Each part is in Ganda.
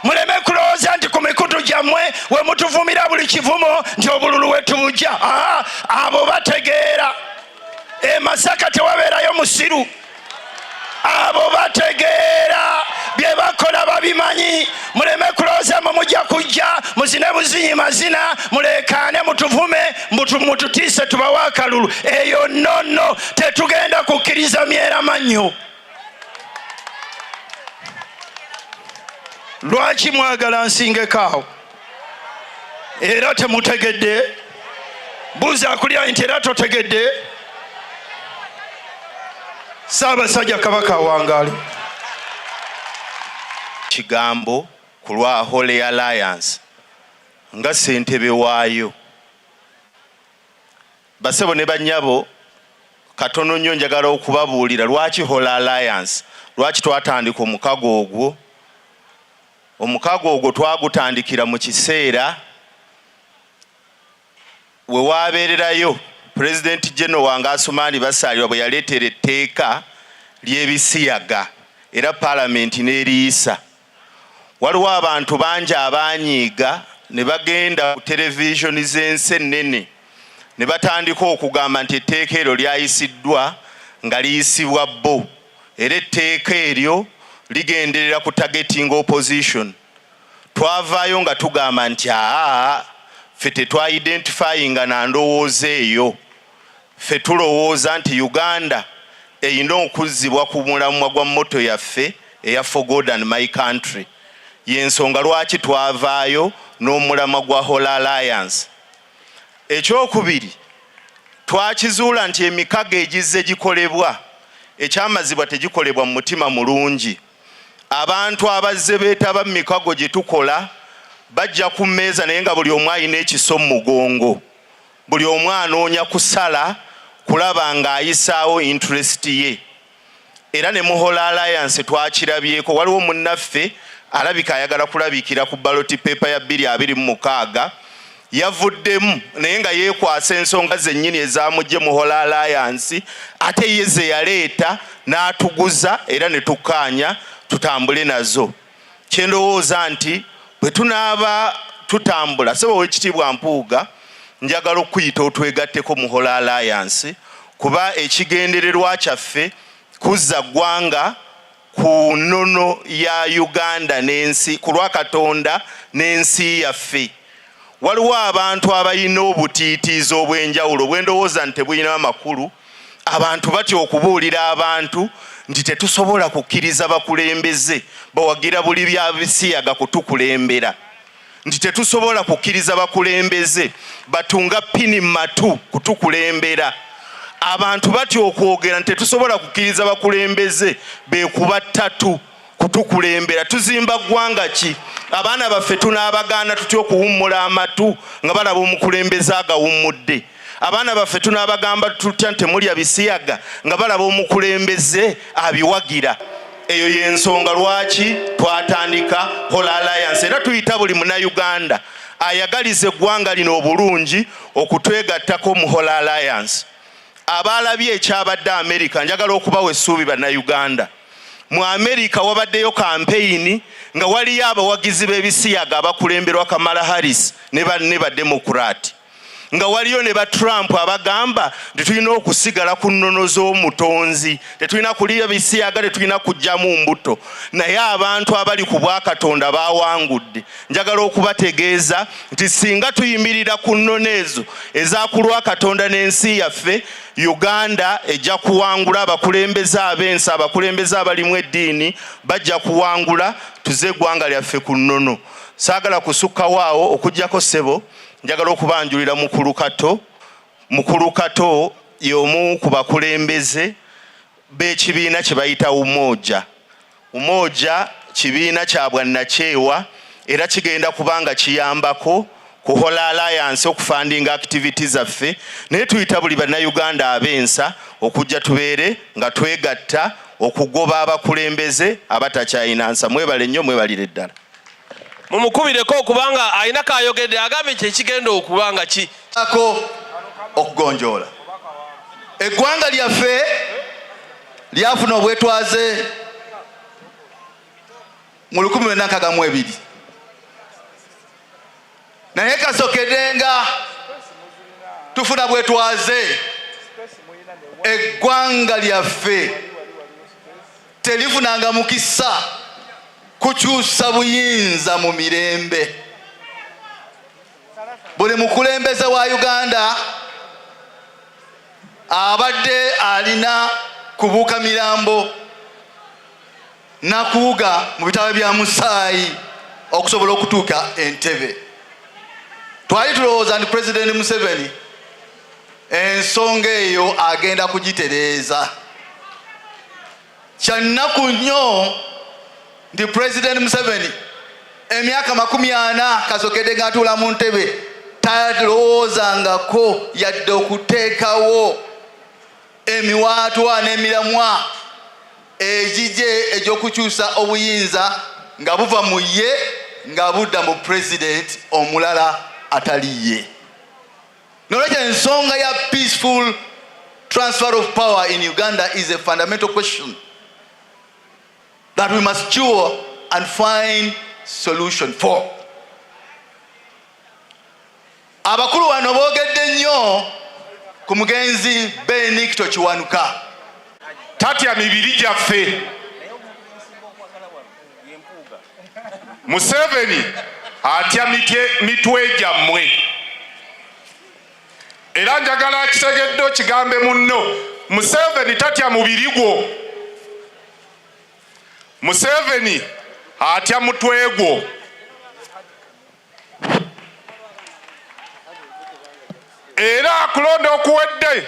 muleme kulowooza nti ku mikutu gyammwe we mutuvumira buli kivumo nti obululu wetubujja aa abo bategeera e masaka tewabeerayo musiru abo bategeera bye bakola babimanyi muleme kulowooza mwe mujja kujja muzine buzinyi mazina muleekaane mutuvume mututiise tubawe akalulu eyo nonno tetugenda kukkiriza myeramannyo lwaki mwagala nsingekaawo era temutegedde buuza akulya nti era totegedde saabasajja kabaka awangaalo kigambo ku lwa holy alliance nga sentebe waayo Basebo ne banyabo katono nnyo njagala okubabuulira lwaki Whole Alliance lwaki twatandika omukago ogwo omukago ogwo twagutandikira mu kiseera we waabeererayo pulezidenti geno wange asumaani basaalirwa bwe yaleetera etteeka ly'ebisiyaga era paalamenti n'eriyisa waliwo abantu bangi abanyiiga ne bagenda ku televisioni z'ensi ennene ne batandika okugamba nti etteeka eryo lyayisiddwa nga liyisibwa bo era etteeka eryo ligenderera ku targeting opposition twavaayo nga tugamba nti aa ffe tetwa identifyinga na ndowooza eyo Ffe tulowooza nti Uganda erina okuzzibwa ku mulamwa gwa motto yaffe eya For God and My Country. Y'ensonga lwaki twavaayo n'omulamwa gwa Whole Alliance. Ekyokubiri, twakizuula nti emikago egizze gikolebwa ekyamazibwa tegikolebwa mu mutima mulungi. Abantu abazze beetaba mu mikago gye tukola bajja ku mmeeza naye nga buli omu alina ekiso mu mugongo. Buli omu anoonya kusala kulaba ng'ayisaawo interest ye era ne Muhola Alliance twakirabyeko. Waliwo munnaffe alabika ayagala kulabikira ku ballot paper ya bbiri abiri mu mukaaga yavuddemu naye nga yeekwasa ensonga zennyini ezaamujje Muhola Alliance ate ye ze yaleeta n'atuguza era ne tukkaanya tutambule nazo. kye ndowooza nti bwe tunaaba tutambula sebo wekitiibwa mpuuga njagala okukuyita otwegatteko muhola alliance kuba ekigendererwa kyaffe kuzza ggwanga ku nnono ya uganda n'ensi ku lwa katonda n'ensi yaffe Waliwo abantu abalina obutiitiizi obw'enjawulo bwendowooza nti tebulina makulu. Abantu batya okubuulira abantu nti tetusobola kukkiriza bakulembeze bawagira buli bya bisiyaga kutukulembera, nti tetusobola kukkiriza bakulembeze batunga pini mu matu kutukulembera. Abantu batya okwogera nti tetusobola kukkiriza bakulembeze beekuba ttatu. kutukulembera tuzimba ggwanga ki abaana baffe tunaabagaana tutya okuwummula amatu nga balaba omukulembeze agawummudde abaana baffe tunaabagamba tutya nti temulya bisiyaga nga balaba omukulembeze abiwagira eyo yensonga lwaki twatandika hola alliance era tuyita buli munauganda ayagaliza eggwanga lino obulungi okutwegattako mu hola alliance abaalabye ekyabadde amerika njagala okubawa essuubi bannauganda mu amerika wabaddeyo kampeyini nga waliyo abawagizi b'ebisiyaga abakulemberwa kamala harris ne banne bademokuraati nga waliyo ne ba trump abagamba nti tulina okusigala ku nnono z'omutonzi tetulina kuliyo bisiyaga tetulina kujjamu mbuto naye abantu abali ku bwakatonda bawangudde njagala okubategeeza nti singa tuyimirira ku nnono ezo ezakulwa katonda n'ensi yaffe Uganda ejja kuwangula. Abakulembeze ab'ensi, abakulembeze abalimu eddiini bajja kuwangula, tuze eggwanga lyaffe ku nnono. Saagala kusukkawo awo okujjako ssebo, njagala okubanjulira Mukulu Kato. Mukulu Kato y'omu ku bakulembeze b'ekibiina kye bayita Umoja. Umoja kibiina kya bwannakyewa era kigenda kuba nga kiyambako kuhola alliance okufandinga activity zaffe naye tuyita buli bannayuganda ab'ensa okujja tubeere nga twegatta okugoba abakulembeze abatakyayina nsa mwebale nnyo mwebalire ddala mumukubireko okubanga alina kayogedde agambye nti ekigenda okuba nga ki ako okugonjoola eggwanga lyaffe lyafuna obwetwaze mu lukumi lwenda nkaga mu ebiri naye kasokedenga tufuna bwetwaze eggwanga lyaffe telifunanga mukisa kukyusa buyinza mu mirembe buli mukulembeze wa Uganda abadde alina kubuuka mirambo nakuwuga mu bitaba bya musaayi okusobola okutuuka entebe twali tulowooza nti pulezidenti museveni ensonga eyo agenda kugitereeza Kyannaku nnyo nti Pulezidenti Museveni emyaka makumi ana kasokede ng'atuula mu ntebe talowoozangako yadde okuteekawo emiwaatwa n'emiramwa egigye egy'okukyusa obuyinza nga buva mu ye nga budda mu Pulezidenti omulala atali ye. nolwekyo ensonga ya peaceful transfer of power in uganda is a fundamental question that we must cure and find solution for abakulu wano boogedde nnyo ku mugenzi benikito kiwanuka tatya mibiri gyaffe Museveni atya mitwe gyammwe era njagala akitegedde okigambe munno Museveni tatya mubiri gwo Museveni atya mutwe gwo era akulonda okuwedde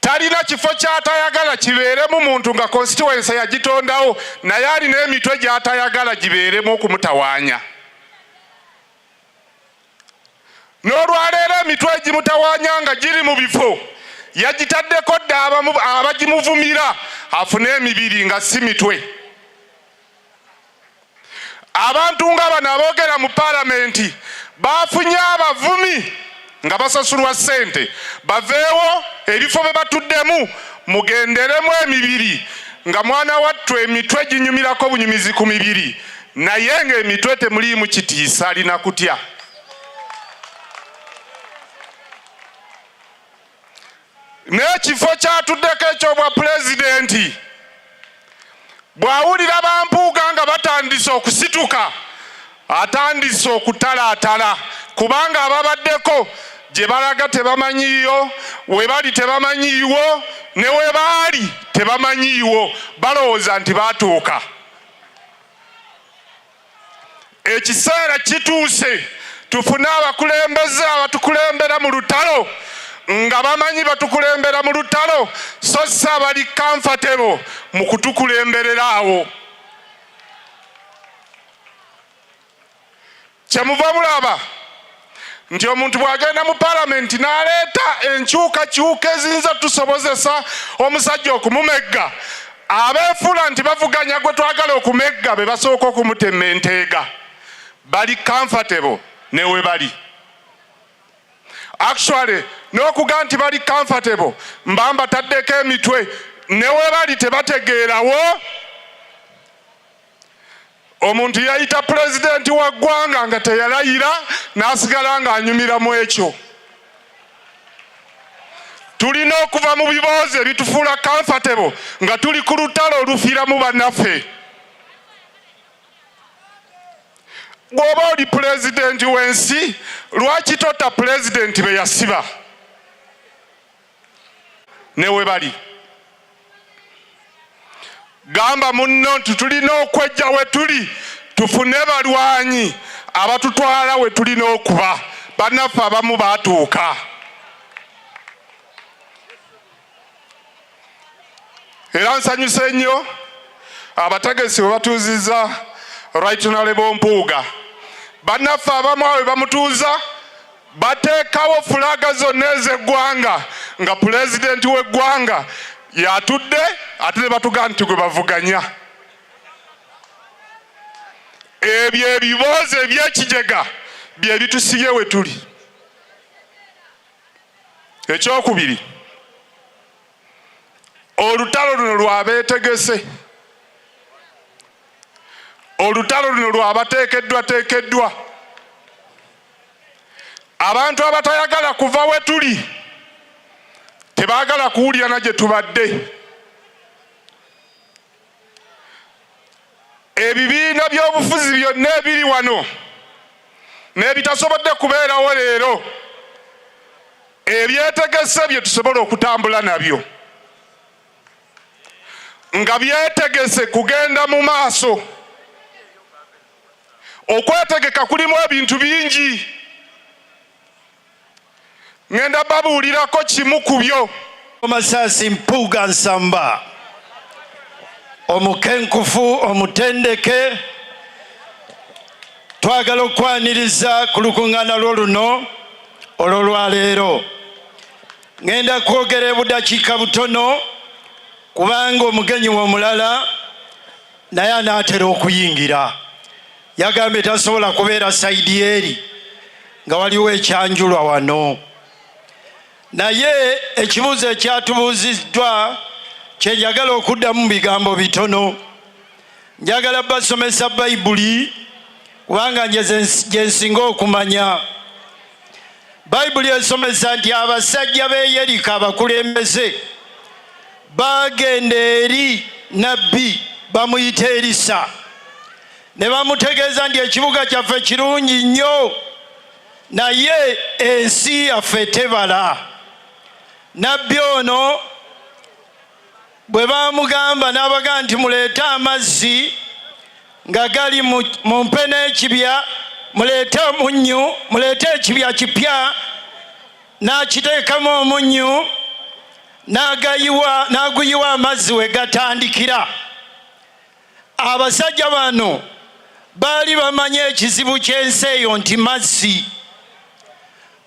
talina kifo ky'atayagala kibeeremu muntu nga konsituwensa yagitondawo naye alina emitwe gy'atayagala gibeeremu okumutawaanya n'olwaleero emitwe egimutawaanya nga giri mu bifo yagitaddeko dda abagimuvumira afune emibiri nga si mitwe abantu nga bano aboogera mu palamenti bafunye abavumi nga basasulwa ssente baveewo ebifo bye batuddemu mugenderemu emibiri nga mwana wattu emitwe ginyumirako bunyumizi ku mibiri naye ng'emitwe temuliimu kitiisa alina kutya n'ekifo kyatuddeko ekyobwa pulezidenti bw'awulira bampuuga nga batandise okusituka atandise okutalaatala kubanga ababaddeko gye balaga tebamanyiiyo we bali tebamanyiiwo ne we baali tebamanyiiwo balowooza nti baatuuka ekiseera kituuse tufune abakulembeze abatukulembera mu lutalo nga bamanyi batukulembera mu lutalo so si abali kamfatebo mu kutukulemberera awo kyemuva bulaba nti omuntu bw'agenda mu palamenti n'aleeta enkyukakyuka eziyinza tusobozesa omusajja okumumegga abeefuula nti bavuganya gwe twagala okumegga be basooka okumutema enteega bali comfortable ne we bali actually n'okuga nti bali comfortable mba mbataddeko emitwe ne we bali tebategeerawo omuntu yayita pulezidenti wa ggwanga nga teyalayira n'asigala ng'anyumira mu ekyo tulina okuva mu biboozi ebitufuula comfortable nga tuli ku lutalo olufiiramu bannaffe bw'oba oli pulezidenti w'ensi lwaki tota pulezidenti be yasiba ne we bali. Gamba munno nti tulina okwejja we tuli tufune balwanyi abatutwala we tulina okuba. Bannaffe abamu baatuuka. Era nsanyuse nnyo abategesi bwe batuuzizza Right Honorable Mpuuga. Bannaffe abamu awe bamutuuza bateekawo fulaga zonna ez'eggwanga nga pulezidenti w'eggwanga yatudde ate ne batugaa nti gwe bavuganya ebyo ebiboozi ebyekijega bye bitusibye we tuli ekyokubiri olutalo luno lwabeetegese olutalo luno lwabateekeddwateekeddwa abantu abatayagala kuva we tuli tebaagala kuwulira na gye tubadde ebibiina by'obufuzi byonna ebiri wano n'ebitasobodde kubeerawo leero ebyetegese bye tusobola okutambula nabyo nga byetegese kugenda mu maaso Okwetegeka kulimu ebintu bingi. Ngenda babuulirako kimu ku byo. Masasi Mpuuga Nsamba omukenkufu omutendeke twagala okwaniriza ku lukuŋŋaana lwo luno olwolwaleero ŋenda kwogera ebudakiika butono kubanga omugenyi womulala naye anaatera okuyingira yagambye tasobola kubeera saidi eri nga waliwo ekyanjulwa wano naye ekibuuzo ekyatubuuziddwa kyenjagala okuddamu bigambo bitono njagala basomesa bayibuli kubanga nje gyensinga okumanya bayibuli esomesa nti abasajja be yeriko abakulembeze baagenda eri nabbi bamuyita erisa ne bamutegeeza nti ekibuga kyaffe kirungi nnyo naye ensi yaffe tebala nabbi ono bwe baamugamba n'abaga nti muleete amazzi nga gali mu mpe n'ekibya muleete omunnyu muleete ekibya kipya n'akiteekamu omunnyu n'agayiwa n'aguyiwa amazzi we gatandikira abasajja bano baali bamanyi ekizibu ky'ensi eyo nti mazzi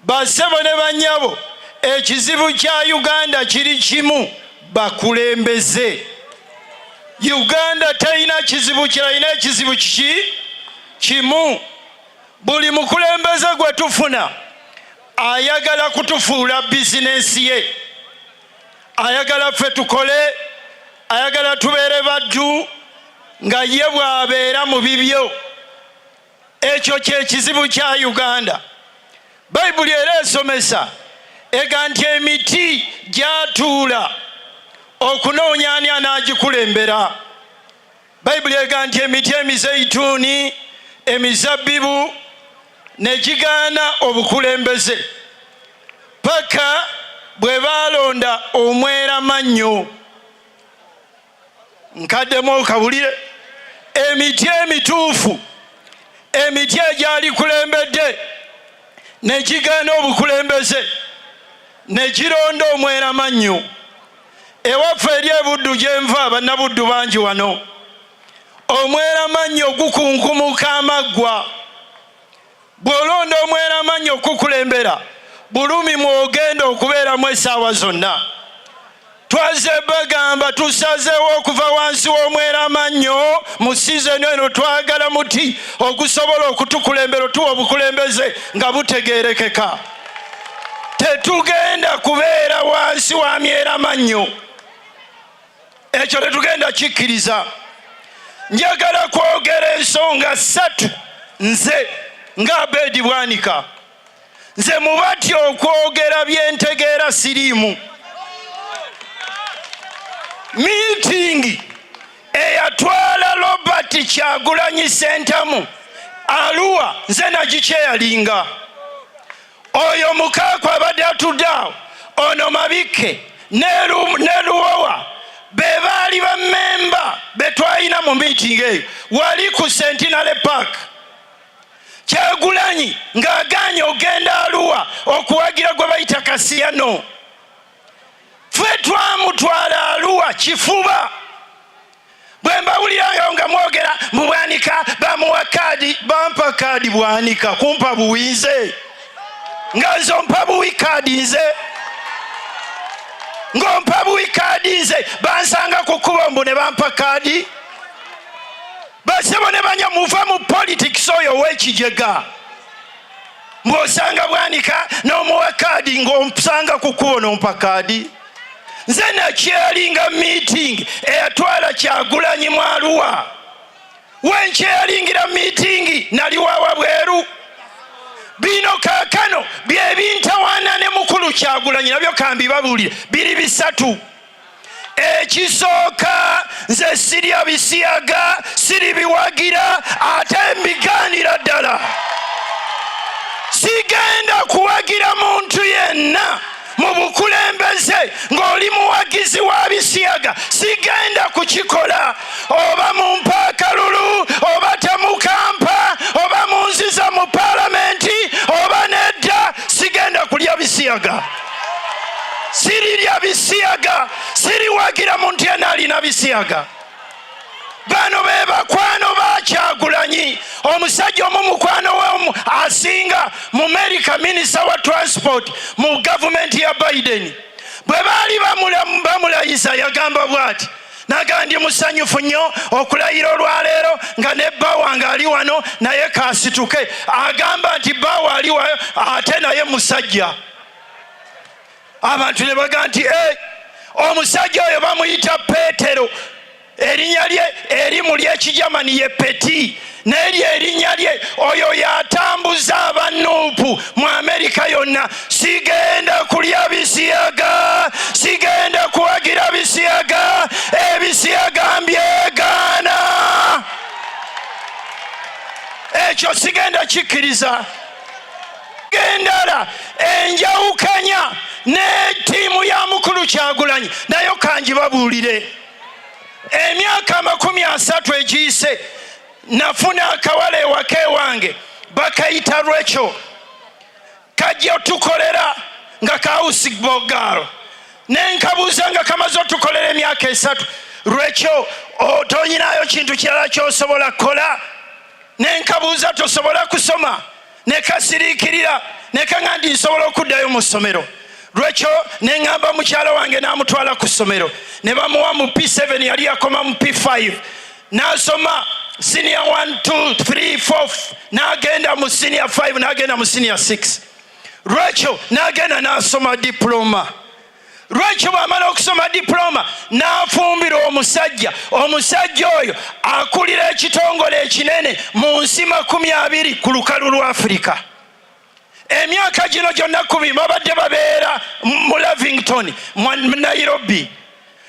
basebo ne banyabo ekizibu kya uganda kiri kimu bakulembeze uganda terina kizibu kiralina ekizibu kiki kimu buli mukulembeze gwe tufuna ayagala kutufuula bizinensi ye ayagala ffe tukole ayagala tubeere baddu nga ye bwabeera mu bibyo ekyo kyekizibu kya uganda bayibuli era esomesa ega nti emiti gyatuula okunoonya ani anaagikulembera bayibuli ega nti emiti emizeituuni emizabbibu ne gigaana obukulembeze paka bwe baalonda omwera mannyo nkaddemu okawulire emiti emituufu emiti egyalikulembedde ne gigaana obukulembeze ne gironda omwera mannyo Ewaffe eri ebuddu gyenva bannabuddu bangi wano omweramannyo gukunkumuka amaggwa bw'olonda omweramannyo okukukulembera bulumi mwogenda okubeeramu essaawa zonna twaze bagamba tusazeewo okuva wansi w'omweramannyo mu sizoni eno twagala muti ogusobola okutukulembera otuwa obukulembeze nga butegeerekeka tetugenda kubeera wansi wa myera mannyo ekyo tetugenda kikkiriza njagala kwogera ensonga ssatu nze nga abeedi bwanika nze mubati okwogera byentegeera siriimu miitingi eyatwala robert kyagulanyi sentamu aluwa nze nagikyeyalinga oyo mukaaku abadde atudde awo ono mabikke neluwowa be baali bamemba betwalina mu miitingi eyo wali ku sentinale park kyagulanyi ng'agaanye ogenda aluwa okuwagira gwe bayita kasiyano ffe twamutwala aluwa kifuba bwe mbawulirayo nga mwogera mu bwanika bamuwa kaadi bampa kaadi bwanika kumpa buwi nze nga nze ompa buwi kaadi nze ng'ompa buwi kaadi nze bansanga ku kkubo mbu ne bampa kaadi basebo ne banya muva mu politics oyo owekijega ng'osanga bwanika n'omuwa kaadi ng'omusanga ku kkubo n'ompa kaadi nze nakyeyalinga meeting eyatwala kyagulanyi mwaluwa wenkyeyalingira meeting naliwawa bweru bino kakano byebintawaana ne mukulu kyagulanyi nabyo kambibabuulire biri bisatu ekisooka nze sirya bisiyaga siribiwagira ate mbigaanira ddala sigenda kuwagira muntu yenna mu bukulembeze ng'oli muwagizi wa bisiyaga sigenda kukikola oba mu mpaakalulu oba temukampa oba munziza mu palamenti oba nedda sigenda kulya bisiyaga sirirya bisiyaga siriwagira muntu yena alina bisiyaga bano be bakwano bakyagulanyi omusajja omu mukwano we asinga mu merika minisita wa transport mu gavumenti ya biden bwe baali bamulayiza yagamba bwati naga ndi musanyufu nnyo okulayira olwaleero nga ne bba wange ali wano naye kasituke agamba nti bba waali wayo ate naye musajja abantu ne baga nti hey, eh, omusajja oyo bamuyita peetero erinnya lye erimu lyekijamani ye peti naye lye erinnya lye oyo yatambuza abanuupu mu amerika yonna sigenda kulya bisiyaga sigenda kuwagira bisiyaga ebisiyaga mbyegaana ekyo sigenda kikkiriza gendala enjawukanya ne tiimu ya mukulu kyagulanyi nayo kangibabuulire emyaka amakumi asatu egiyise nafuna akawala ewaka ewange bakayita lwekyo kajja otukolera nga kawusi bogaalo nenkabuuza nga kamaze otukolera emyaka esatu lwekyo otonyinayo kintu kirala kyosobola kukola nenkabuuza tosobola kusoma ne kasiriikirira ne kaŋa ndi nsobola okuddayo mu ssomero lwekyo ne ŋŋamba mukyala wange n'amutwala ku ssomero ne bamuwa mu p7 yali yakoma mu p5 n'asoma siniya 123 n'agenda mu siniya 5 n'agenda mu siniya 6 lwekyo n'agenda n'asoma diploma lwekyo bwamala okusoma diploma n'afumbira omusajja omusajja oyo akulira ekitongole ekinene mu nsi makumi abiri ku lukalu lwa afirika emyaka gino gyonna kubi babadde babeera mu lavington mu nairobi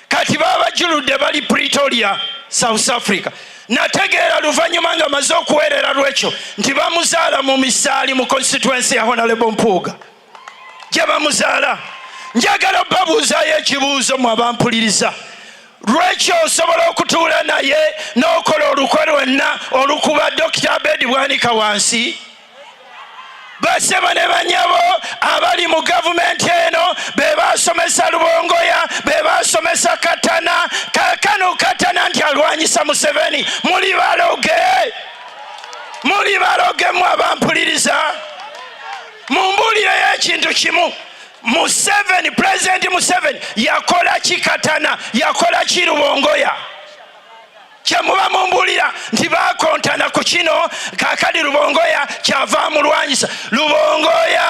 kati babajuludde bali pretoria south africa nategeera luvannyuma nga maze okuweerera lwekyo nti bamuzaala mu misaali mu constituensi ya honalebo mpuuga gye bamuzaala njagala obabuuzayo ekibuuzo mu abampuliriza lwekyo osobola okutuula naye n'okola olukwe lwenna olukuba dokita abedi bwanika wansi basebo ne banyabo abali mu gavumenti eno be basomesa lubongoya be basomesa katana kakano katana nti alwanyisa museveni muli baloge muli baloge mu abampuliriza mumbuulire y'ekintu kimu museveni pulezidenti museveni yakola ki katana yakola ki rubongoya kyemuba mumbulira nti bakontana ku kino kakadi lubongoya kyava amulwanyisa lubongoya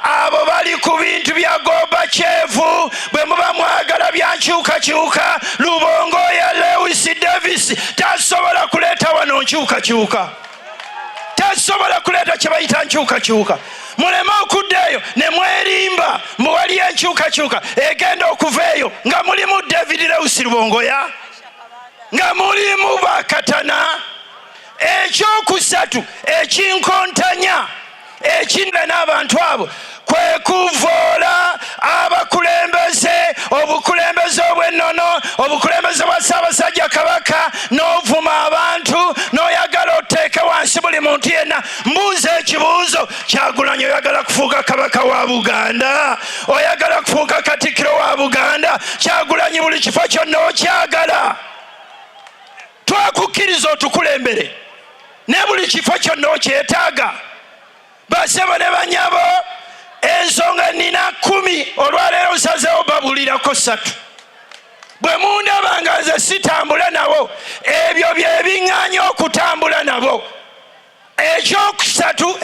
abo bali ku bintu bya goba kyevu bwe muba mwagala byankyukakyuka lubongoya lewis davis tasobola kuleeta wano nkyukakyuka tezisobola kuleeta kye bayita nkyukakyuka muleme okudda eyo ne mwerimba mbu waliyo enkyukakyuka egenda okuva eyo nga mulimu david lewusi lubongoya nga mulimu bakatana ekyokusatu ekinkontanya ekinna n'abantu abo kwe kuvoola abakulembeze obukulembeze obw'ennono obukulembeze bwa ssaabasajja kabaka n'ovuma abantu n'oyagala oteeke wansi buli muntu yenna mbuuza ekibuuzo kyagulanyi oyagala kufuuka kabaka wa buganda oyagala kufuuka katikkiro wa buganda kyagulanyi buli kifo kyonna okyagala twakukkiriza otukulembere ne buli kifo kyonna okyetaaga basebo ne banyabo ensonga nina kumi olwaleero nsazewo babulirako satu bwe mundaba nga nze sitambula nabo ebyo byebiŋŋanya okutambula nabo ekyokusatu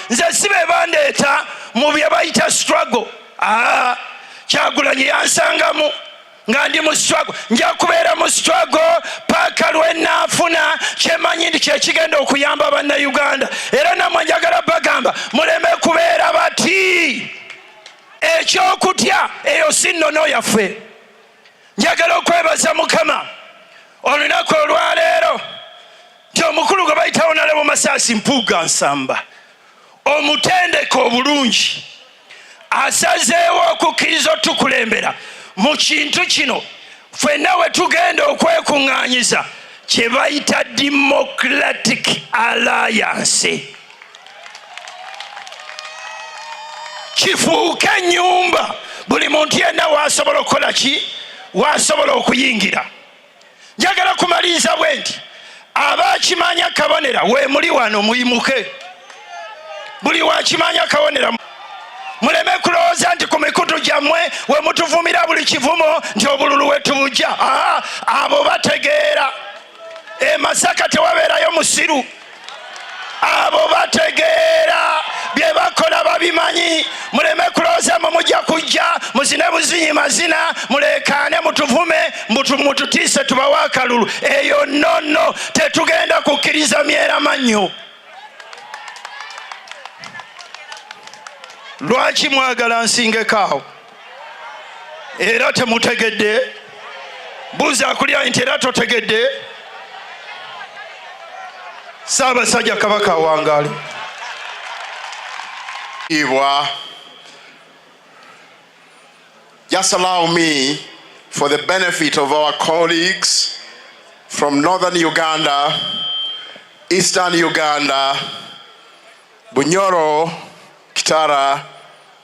nze si be bandeeta mu bye bayita struggle aa kyagulanyi yansangamu nga ndi mu struggle nja kubeera mu struggle paaka lwenaafuna kyemanyi nti kyekigenda okuyamba bannayuganda era namwe njagala bagamba muleme kubeera bati ekyokutya eyo si nnono yaffe njagala okwebaza mukama olunaku olwaleero nti omukulu gwe bayitawo nalebo masaasi mpuuga nsamba omutendeka obulungi asazeewo okukkiriza otukulembera mu kintu kino fenna we tugenda okwekuŋŋaanyiza kye bayita democratic alliance kifuuke ennyumba buli muntu yenna waasobola okukola ki waasobola okuyingira njagala kumaliriza bwe nti abakimanya kabonera wemuli wano muyimuke buli wakimanya kabonera muleme kulowooza nti ku mikutu gyammwe we mutuvumira buli kivumo nti obululu wetubujja abo bategeera emasaka tewabeerayo musiru abo bategeera bye bakola babimanyi muleme kulooza mwe mujja kujja muzine buzinyi mazina muleekaane mutuvume mututiise tubawo akalulu eyo nonno tetugenda kukkiriza myera mannyo lwaki mwagala nsingekaawo era temutegedde buuza akulya nti era totegedde saabasajja kabaka awangaale ibwa just allow me for the benefit of our colleagues from northern Uganda, eastern Uganda, Bunyoro, Kitara,